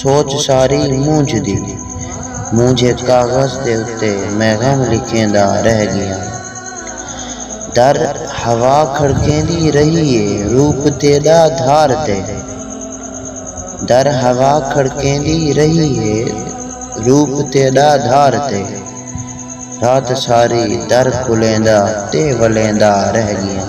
سوچ ساری مونجھ دی۔ مونجھے کاغذ دے اتے میں غم لکھیندا رہ گیاں۔ در ہوا کھڑکیندی رہی اے روپ تیڈا دھار تے۔ در ہوا کھڑکیندی رہی اے روپ تیڈا دھار تے۔ رات ساری در کھلیندا تے ولیندا رہ گیاں۔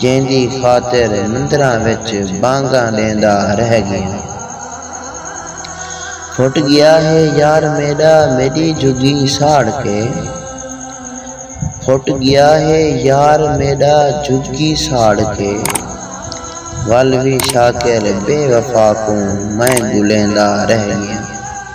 جیندی خاطر مندراں وچ بانگاں ݙیندا رہ ڳیاں۔ پھٹ ڳیا ہے یار میݙا میݙی جھڳی ساڑ کے۔ پھٹ ڳیا ہے یار میݙا جھڳی ساڑ کے۔ ول وی شاکر بے وفا کوں میں ڳلیندا رہ ڳیاں۔